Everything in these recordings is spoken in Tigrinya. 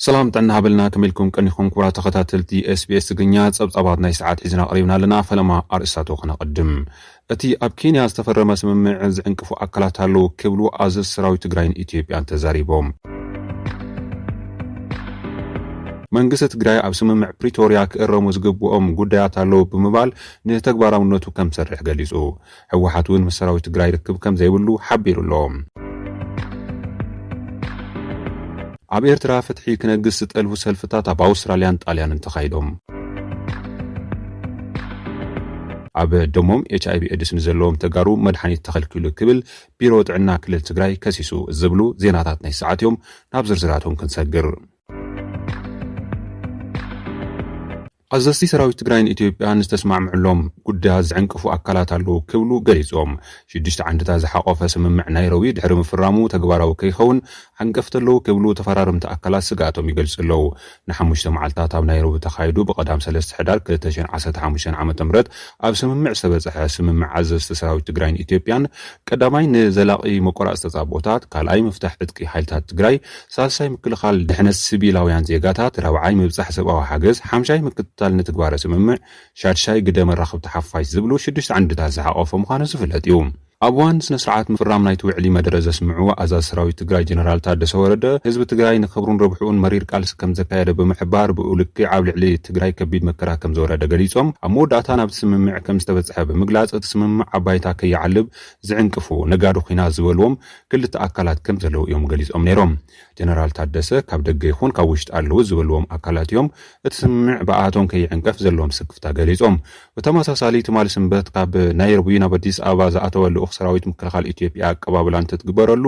ሰላም ጥዕና ሃበልና ከመይ ኢልኩም ቀኒኹም ክቡራት ተኸታተልቲ SBS ትግርኛ ጸብጻባት ናይ ሰዓት ሒዝና ቀሪብና ኣለና ፈለማ ኣርእስታቱ ከነቐድም እቲ ኣብ ኬንያ ዝተፈረመ ስምምዕ ዝዕንቅፉ ኣካላት ኣለዉ ክብሉ ኣዘዝ ሰራዊት ትግራይን ኢትዮጵያን ተዛሪቦም መንግስቲ ትግራይ ኣብ ስምምዕ ፕሪቶርያ ክእረሙ ዝግብኦም ጉዳያት ኣለዉ ብምባል ንተግባራውነቱ ከም ዝሰርሕ ገሊጹ ህወሓት እውን ምስ ሰራዊት ትግራይ ርክብ ከምዘይብሉ ሓቢሩ ኣሎ። ኣብ ኤርትራ ፍትሒ ክነግስ ዝጠልቡ ሰልፍታት ኣብ ኣውስትራልያን ጣልያንን ተኻይዶም። ኣብ ደሞም ኤችኣይቪ ኤድስ ንዘለዎም ተጋሩ መድሓኒት ተኸልኪሉ ክብል ቢሮ ጥዕና ክልል ትግራይ ከሲሱ ዝብሉ ዜናታት ናይዚ ሰዓት እዮም። ናብ ዝርዝራቶም ክንሰግር። ኣዘዝቲ ሰራዊት ትግራይን ኢትዮጵያን ዝተስማዕምዕሎም ጉዳያት ዝዕንቅፉ ኣካላት ኣለዉ ክብሉ ገሊፆም። ሽዱሽተ ዓንድታት ዝሓቖፈ ስምምዕ ናይሮቢ ድሕሪ ምፍራሙ ተግባራዊ ከይኸውን ዓንቀፍቲ ኣለዉ ክብሉ ተፈራረምቲ ኣካላት ስግኣቶም ይገልፁ ኣለዉ። ንሓሙሽተ መዓልታት ኣብ ናይሮቢ ተኻይዱ ብቀዳም ሰለስተ ሕዳር ክልተ ሽሕን ዓሰርተ ሓሙሽተን ዓመተ ምህረት ኣብ ስምምዕ ዝተበፀሐ ስምምዕ ኣዘዝቲ ሰራዊት ትግራይን ኢትዮጵያን ቀዳማይ ንዘላቒ መቆራፅ ተፃብኦታት፣ ካልኣይ ምፍታሕ ዕጥቂ ሓይልታት ትግራይ፣ ሳልሳይ ምክልኻል ድሕነት ስቪላውያን ዜጋታት፣ ራብዓይ ምብጻሕ ሰብኣዊ ሓገዝ፣ ሓምሻይ ምክትታል ንትግባረ ስምምዕ፣ ሻድሻይ ግደ መራኽብቲ ሓፋሽ ዝብሉ ሽዱሽተ ዓንድታት ዝሓቖፈ ምዃኑ ዝፍለጥ እዩ። ኣብ እዋን ስነ-ስርዓት ምፍራም ናይቲ ውዕሊ መደረ ዘስምዑ ኣዛዚ ሰራዊት ትግራይ ጀነራል ታደሰ ወረደ፣ ህዝቢ ትግራይ ንክብሩን ረብሕኡን መሪር ቃልሲ ከምዘካየደ ብምሕባር፣ ብኡ ልክዕ ኣብ ልዕሊ ትግራይ ከቢድ መከራ ከምዝወረደ ገሊጾም። ኣብ መወዳእታ ናብቲ ስምምዕ ከምዝተበጽሐ ብምግላጽ፣ እቲ ስምምዕ ኣብ ባይታ ከይዓልብ ዝዕንቅፉ ነጋዶ ኲናት ዝበሉዎም ክልተ ኣካላት ከም ዘለዉ እዮም ገሊፆም ነይሮም። ጀነራል ታደሰ ካብ ደገ ይኹን ካብ ውሽጢ ኣለዉ ዝበልዎም ኣካላት እዮም እቲ ስምምዕ ብኣኣቶም ከይዕንቀፍ ዘለዎም ስክፍታ ገሊፆም። ብተመሳሳሊ ትማሊ ስንበት ካብ ናይሮቢ ናብ ኣዲስ ኣበባ ዝኣተወ ልኡኽ ሰራዊት ምክልኻል ኢትዮጵያ ኣቀባብላ እንትትግበረሉ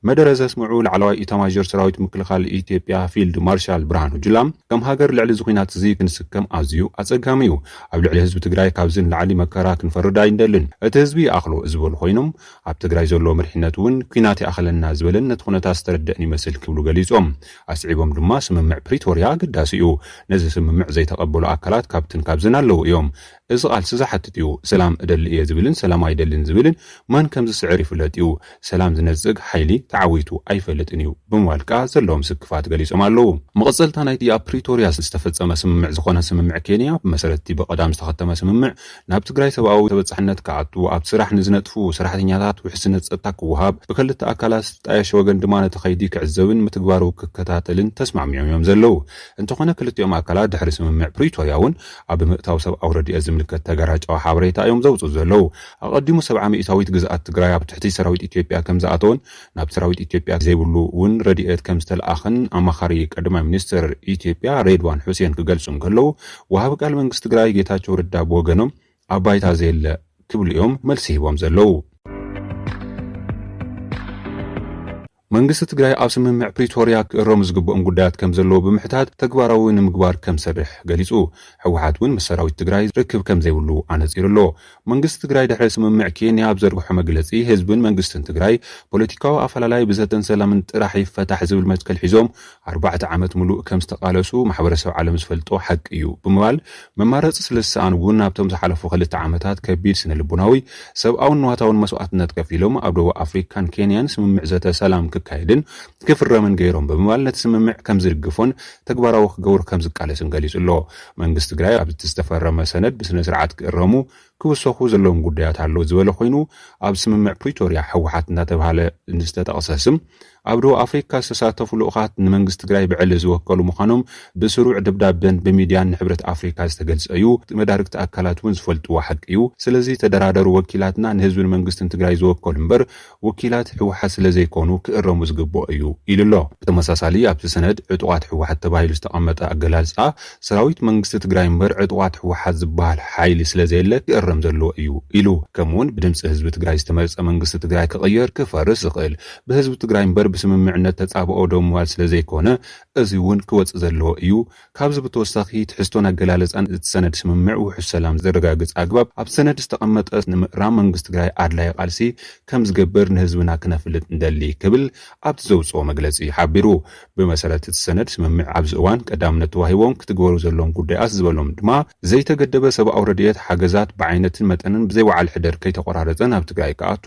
መደረ ዘስምዑ ላዕለዋይ ኢታማዦር ሰራዊት ምክልኻል ኢትዮጵያ ፊልድ ማርሻል ብርሃኑ ጁላ ከም ሃገር ልዕሊ እዚ ኹናት እዚ ክንስከም ኣዝዩ ኣፀጋሚ እዩ። ኣብ ልዕሊ ህዝቢ ትግራይ ካብዚ ንላዕሊ መከራ ክንፈርድ ኣይንደልን። እቲ ህዝቢ ይኣኽሎ ዝበሉ ኾይኖም ኣብ ትግራይ ዘሎ መሪሕነት እውን ኲናት ይኣኽለና ዝበለን ነቲ ኩነታት ዝተረደእን ይመስል ክብሉ ገሊፆም። ኣስዒቦም ድማ ስምምዕ ፕሪቶርያ ኣገዳሲ እዩ። ነዚ ስምምዕ ዘይተቐበሉ ኣካላት ካብትን ካብዝን ኣለዉ እዮም። እዚ ቓልሲ ዝሓትት እዩ። ሰላም እደሊ እየ ዝብልን ሰላም ኣይደልን ዝብልን መን ከምዝስዕር ይፍለጥ እዩ። ሰላም ዝነፅግ ሓይሊ ተዓዊቱ ኣይፈልጥን እዩ ብምባል ከዓ ዘለዎም ስክፋት ገሊፆም ኣለዉ። መቐፀልታ ናይቲ ኣብ ፕሪቶርያ ዝተፈፀመ ስምምዕ ዝኾነ ስምምዕ ኬንያ ብመሰረት እቲ ብቐዳም ዝተኸተመ ስምምዕ ናብ ትግራይ ሰብኣዊ ተበፃሕነት ክኣቱ፣ ኣብቲ ስራሕ ንዝነጥፉ ሰራሕተኛታት ውሕስነት ፀጥታ ክወሃብ፣ ብክልተ ኣካላት ዝጣየሽ ወገን ድማ ነቲ ከይዲ ክዕዘብን ምትግባሩ ክከታተልን ተስማዕሚዖም እዮም ዘለዉ። እንተኾነ ክልቲኦም ኣካላት ድሕሪ ስምምዕ ፕሪቶርያ እውን ኣብ ምእታው ሰብኣዊ ረድኤት ዝምልከት ተጋራጫዊ ሓበሬታ እዮም ዘውፅኡ ዘለዉ። ኣቐዲሙ ሰብዓ ሚኢታዊት ግዝኣት ትግራይ ኣብ ትሕቲ ሰራዊት ኢትዮጵያ ከምዝኣተወን ናብ ሰራዊት ኢትዮጵያ ዘይብሉ ውን ረድኤት ከምዝተልኣኸን ኣማኻሪ ቀዳማይ ሚኒስትር ኢትዮጵያ ሬድዋን ሑሴን ክገልፁ እንከለው ወሃቢ ቃል መንግስቲ ትግራይ ጌታቸው ረዳ ብወገኖም ኣብ ባይታ ዘየለ ክብሉ እዮም መልሲ ሂቦም ዘለው። መንግስቲ ትግራይ ኣብ ስምምዕ ፕሪቶርያ ክእረሙ ዝግብኦም ጉዳያት ከም ዘለዉ ብምሕታት ተግባራዊ ንምግባር ከም ዝሰርሕ ገሊፁ። ህወሓት እውን ምስ ሰራዊት ትግራይ ርክብ ከም ዘይብሉ ኣነፂሩ ኣሎ። መንግስቲ ትግራይ ድሕሪ ስምምዕ ኬንያ ኣብ ዘርግሖ መግለፂ ህዝብን መንግስትን ትግራይ ፖለቲካዊ ኣፈላላይ ብዘተን ሰላምን ጥራሕ ይፈታሕ ዝብል መትከል ሒዞም ኣርባዕተ ዓመት ሙሉእ ከምዝተቓለሱ ማሕበረሰብ ዓለም ዝፈልጦ ሓቂ እዩ ብምባል መማረፂ ስለዝሰኣኑ እውን ኣብቶም ዝሓለፉ ክልተ ዓመታት ከቢድ ስነልቦናዊ ሰብኣውን ንዋታውን መስዋእትነት ከፊሎም ኣብ ደቡብ ኣፍሪካን ኬንያን ስምምዕ ዘተ ሰላም ክካየድን ክፍረምን ገይሮም ብምባል ነቲ ስምምዕ ከምዝድግፎን ተግባራዊ ክገብሮ ከምዝቃለስን ገሊፁ ኣሎ። መንግስቲ ትግራይ ኣብቲ ዝተፈረመ ሰነድ ብስነስርዓት ክእረሙ፣ ክውሰኹ፣ ዘለዎም ጉዳያት ኣለው ዝበለ ኮይኑ ኣብ ስምምዕ ፕሪቶርያ ህወሓት እንዳተብሃለ ዝተጠቕሰ ስም ኣብ ደቡብ ኣፍሪካ ዝተሳተፉ ልኡኻት ንመንግስቲ ትግራይ ብዕሊ ዝወከሉ ምዃኖም ብስሩዕ ደብዳበን ብሚድያን ንሕብረት ኣፍሪካ ዝተገልፀ ዩ። መዳርግቲ ኣካላት ውን ዝፈልጥዎ ሓቂ ዩ። ስለዚ ተደራደሩ ወኪላትና ንህዝብን መንግስትን ትግራይ ዝወከሉ ምበር ወኪላት ህወሓት ስለዘይኮኑ ክእረሙ ዝግበኦ እዩ ኢሉ'ሎ። ብተመሳሳሊ ኣብቲ ሰነድ ዕጡቓት ህወሓት ተባሂሉ ዝተቐመጠ ኣገላልፃ ሰራዊት መንግስቲ ትግራይ እምበር ዕጡቓት ህወሓት ዝበሃል ሓይሊ ስለዘየለ ክእረም ዘለዎ እዩ ኢሉ። ከምኡ'ውን ብድምፂ ህዝቢ ትግራይ ዝተመርፀ መንግስቲ ትግራይ ክቕየር፣ ክፈርስ፣ ዝኽእል ብህዝቢ ትግራይ እምበር ብስምምዕነት ተፃብኦ ደው ምባል ስለዘይኮነ እዚ'ውን ክወፅእ ዘለዎ እዩ ካብዚ ብተወሳኺ ትሕዝቶን ኣገላልፃን እቲ ሰነድ ስምምዕ ውሑስ ሰላም ዘረጋግፅ ኣግባብ ኣብ ሰነድ ዝተቐመጠ ንምእራም መንግስቲ ትግራይ ኣድላይ ቓልሲ ከምዝገብር ንህዝብና ክነፍልጥ ንደሊ ክብል ኣብቲ ዘውፅኦ መግለፂ ሓቢሩ። ብመሰረት እቲ ሰነድ ስምምዕ ኣብዚ እዋን ቀዳምነት ተዋሂቦም ክትግበሩ ዘለዎም ጉዳያት ዝበሎም ድማ ዘይተገደበ ሰብኣዊ ረድኤት ሓገዛት ብዓይነትን መጠንን ብዘይ ወዓል ሕደር ከይተቖራረፀ ናብ ትግራይ ክኣቱ፣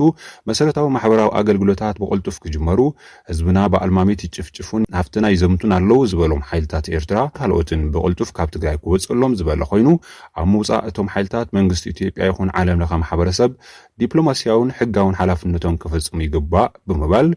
መሰረታዊ ማሕበራዊ ኣገልግሎታት ብቕልጡፍ ክጅመሩ፣ ህዝብና ብኣልማሚት ይጭፍጭፉን ናፍትና ይዘምቱን ኣለዉ ዝበሎም ሓይልታት ኤርትራ ካልኦትን ብቕልጡፍ ካብ ትግራይ ክወጸሎም ዝበለ ኮይኑ ኣብ ምውጻእ እቶም ሓይልታት መንግስቲ ኢትዮጵያ ይኹን ዓለም ለኸ ማሕበረሰብ ዲፕሎማሲያውን ሕጋውን ሓላፍነቶም ክፍጽሙ ይግባእ ብምባል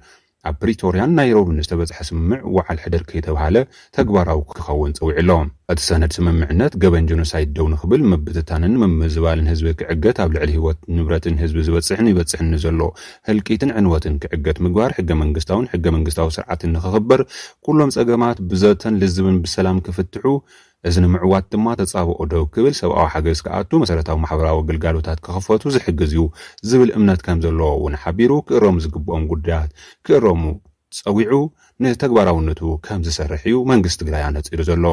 ኣብ ፕሪቶርያን ናይሮብን ዝተበጽሐ ስምምዕ ወዓል ሕደር ከይተብሃለ ተግባራዊ ክኸውን ጸዊዑ ኣሎ። እቲ ሰነድ ስምምዕነት፣ ገበን ጀኖሳይድ ደው ንኽብል፣ ምብትታንን ምምዝባልን ህዝቢ ክዕገት፣ ኣብ ልዕሊ ህይወትን ንብረትን ህዝቢ ዝበጽሕን ይበጽሕን ንዘሎ ህልቂትን ዕንወትን ክዕገት ምግባር፣ ሕገመንግስታውን ሕገመንግስታዊ ስርዓትን ንኽኽበር፣ ኩሎም ጸገማት ብዘተን ልዝብን ብሰላም ክፍትሑ፣ እዚ ንምዕዋት ድማ ተጻብኦ ደው ክብል፣ ሰብኣዊ ሓገዝ ክኣቱ፣ መሰረታዊ ማሕበራዊ ግልጋሎታት ክኽፈቱ ዝሕግዝ እዩ ዝብል እምነት ከምዘለዎ እውን ሓቢሩ፣ ክእረሙ ዝግብኦም ጉዳያት ክእረሙ፣ ፀዊዑ ንተግባራውነቱ ከምዝሰርሕ እዩ መንግስቲ ትግራይ ኣነፂሩ ዘሎ።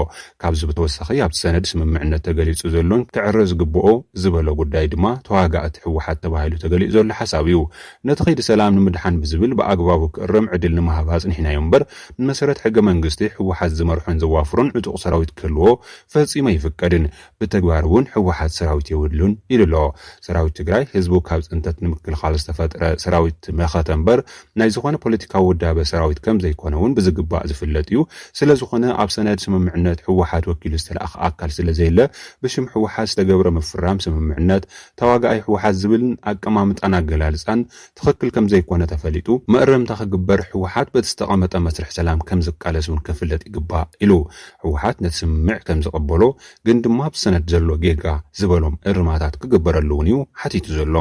ካብዚ ብተወሳኺ ኣብቲ ሰነድ ስምምዕነት ተገሊፁ ዘሎን ክዕረ ዝግበኦ ዝበሎ ጉዳይ ድማ ተዋጋእቲ ህወሓት ተባሂሉ ተገሊፁ ዘሎ ሓሳብ እዩ። ነቲ ከይዲ ሰላም ንምድሓን ብዝብል ብኣግባቡ ክእረም ዕድል ንምሃብ ኣፅኒሕናዮ እምበር ብመሰረት ሕገ መንግስቲ ህወሓት ዝመርሖን ዘዋፍሮን ዕጡቕ ሰራዊት ክህልዎ ፈፂሙ ኣይፍቀድን። ብተግባር እውን ህወሓት ሰራዊት የብሉን ኢሉ ኣሎ። ሰራዊት ትግራይ ህዝቡ ካብ ፅንተት ንምክልኻል ዝተፈጥረ ሰራዊት መኸተ እምበር ናይ ዝኾነ ፖለቲካዊ ውዳበ ሰራዊት ከምዘይኮነ እውን ብዝግባእ ዝፍለጥ እዩ። ስለዝኾነ ኣብ ሰነድ ስምምዕነት ህወሓት ወኪሉ ዝተልኣኸ ኣካል ስለዘየለ ብሽም ህወሓት ዝተገብረ ምፍራም ስምምዕነት ተዋጋኣይ ህወሓት ዝብል ኣቀማምጣን ኣገላልፃን ትኽክል ከምዘይኮነ ተፈሊጡ መእረምታ ክግበር ህወሓት በቲ ዝተቐመጠ መስርሕ ሰላም ከምዝቃለስ እውን ክፍለጥ ይግባእ ኢሉ። ህወሓት ነቲ ስምምዕ ከምዝቐበሎ ግን ድማ ኣብቲ ሰነድ ዘሎ ጌጋ ዝበሎም እርማታት ክግበረሉ እውን እዩ ሓቲቱ ዘሎ።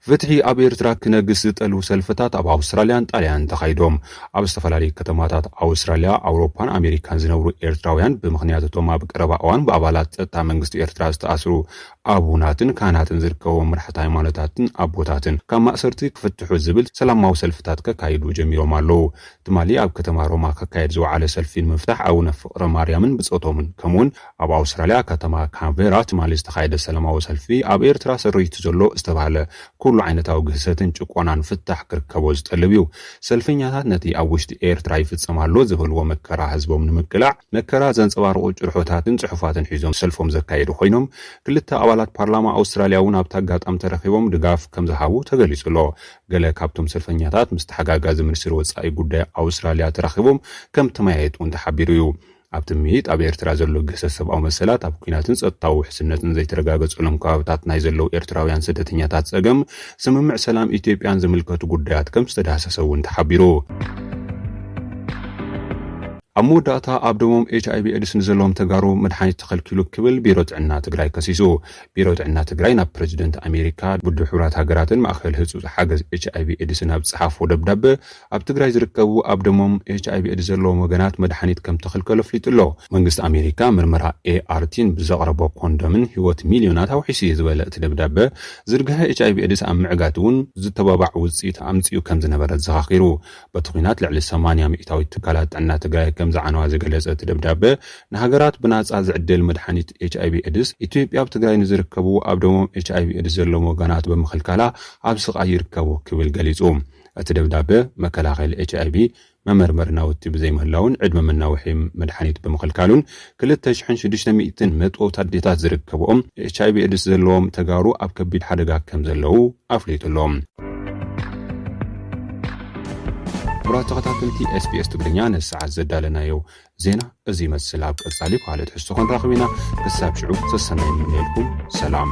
ፍትሒ ኣብ ኤርትራ ክነግስ ዝጠልቡ ሰልፍታት ኣብ ኣውስትራልያን ጣልያንን ተኻይዶም። ኣብ ዝተፈላለዩ ከተማታት ኣውስትራልያ፣ ኣውሮፓን ኣሜሪካን ዝነብሩ ኤርትራውያን ብምኽንያት እቶም ኣብ ቀረባ እዋን ብኣባላት ጸጥታ መንግስቲ ኤርትራ ዝተኣስሩ ኣቡናትን ካህናትን ዝርከብዎም መራሕቲ ሃይማኖታትን ኣቦታትን ካብ ማእሰርቲ ክፍትሑ ዝብል ሰላማዊ ሰልፍታት ከካይዱ ጀሚሮም ኣለዉ። ትማሊ ኣብ ከተማ ሮማ ክካየድ ዝወዓለ ሰልፊ ንምፍታሕ ኣቡነ ፍቕረማርያምን ብጾቶምን ከምኡ'ውን ኣብ ኣውስትራልያ ከተማ ካንቬራ ትማሊ ዝተኻየደ ሰላማዊ ሰልፊ ኣብ ኤርትራ ሰሪቱ ዘሎ ዝተባህለ ኩሉ ዓይነታዊ ግህሰትን ጭቆናን ፍታሕ ክርከቦ ዝጠልብ እዩ። ሰልፈኛታት ነቲ ኣብ ውሽጢ ኤርትራ ይፍጸም ኣሎ ዝበልዎ መከራ ህዝቦም ንምቅላዕ መከራ ዘንጸባርቑ ጭርሖታትን ጽሑፋትን ሒዞም ሰልፎም ዘካየዱ ኮይኖም ክልተ ኣባላት ፓርላማ ኣውስትራልያ እውን ኣብቲ ኣጋጣሚ ተረኺቦም ድጋፍ ከምዝሃቡ ተገሊጹ ኣሎ። ገለ ካብቶም ሰልፈኛታት ምስ ተሓጋጋዚ ሚኒስትሪ ወጻኢ ጉዳይ ኣውስትራልያ ተራኺቦም ከምተመያየጡ እውን ተሓቢሩ እዩ። ኣብቲ ምይይጥ ኣብ ኤርትራ ዘሎ ግህሰት ሰብኣዊ መሰላት፣ ኣብ ኲናትን ጸጥታዊ ውሕስነትን ዘይተረጋገጸሎም ከባብታት ናይ ዘለዉ ኤርትራውያን ስደተኛታት ጸገም፣ ስምምዕ ሰላም ኢትዮጵያን ዝምልከቱ ጉዳያት ከም ዝተዳህሰሰ እውን ተሓቢሩ። ኣብ መወዳእታ ኣብ ደሞም ኤች ኣይቪ ኤድስ ንዘለዎም ተጋሩ መድሓኒት ተኸልኪሉ ክብል ቢሮ ጥዕና ትግራይ ከሲሱ። ቢሮ ጥዕና ትግራይ ናብ ፕረዚደንት ኣሜሪካ፣ ውድብ ሕቡራት ሃገራትን ማእኸል ህፁፅ ሓገዝ ኤች ኣይቪ ኤድስን ኣብ ዝፀሓፎ ደብዳበ ኣብ ትግራይ ዝርከቡ ኣብ ደሞም ኤችኣይቪ ኤድስ ዘለዎም ወገናት መድሓኒት ከምተኸልከሉ ኣፍሊጡ'ሎ። መንግስቲ ኣሜሪካ ምርመራ ART ን ብዘቕረቦ ኮንዶምን ህይወት ሚልዮናት ኣውሒሱ'ዩ ዝበለ እቲ ደብዳበ፣ ዝርግሐ ኤችኣይቪ ኤድስ ኣብ ምዕጋት'ውን ዝተባባዕ ውፅኢት ኣምፂኡ ከምዝነበረ ኣዘኻኺሩ። በቲ ኹናት ልዕሊ ሰማንያ ሚኢታዊት ትካላት ጥዕና ትግራይ ከምዝዓነዋ ዝገለፀ እቲ ደብዳበ፣ ንሃገራት ብናፃ ዝዕደል መድሓኒት ኤችኣይቪ ኤድስ ኢትዮጵያ ኣብ ትግራይ ንዝርከቡ ኣብ ደሞም ኤችኣይቪ ኤድስ ዘለዎም ወገናት ብምኽልካላ ኣብ ስቓይ ይርከቡ ክብል ገሊፁ። እቲ ደብዳበ፣ መከላኸሊ ኤችኣይቪ መመርመሪ ናውቲ ብዘይምህላዉን ዕድመ መናውሒ መድሓኒት ብምኽልካሉን ክልተ ሽሕን ሽዱሽተ ሚእትን መጥበውቲ ኣዴታት ዝርከብኦም ኤችኣይቪ ኤድስ ዘለዎም ተጋሩ ኣብ ከቢድ ሓደጋ ከምዘለዉ ኣፍሊጡ ኣሎ። ክቡራት ተኸታተልቲ SBS ትግርኛ ነዚ ሰዓት ዘዳለናዮ ዜና እዚ ይመስል። ኣብ ቀጻሊ ብኻልእ ትሕዝቶ ክንራኽብ ኢና። ክሳብ ሽዑ ሰሰናይ ንምነየልኩም። ሰላም።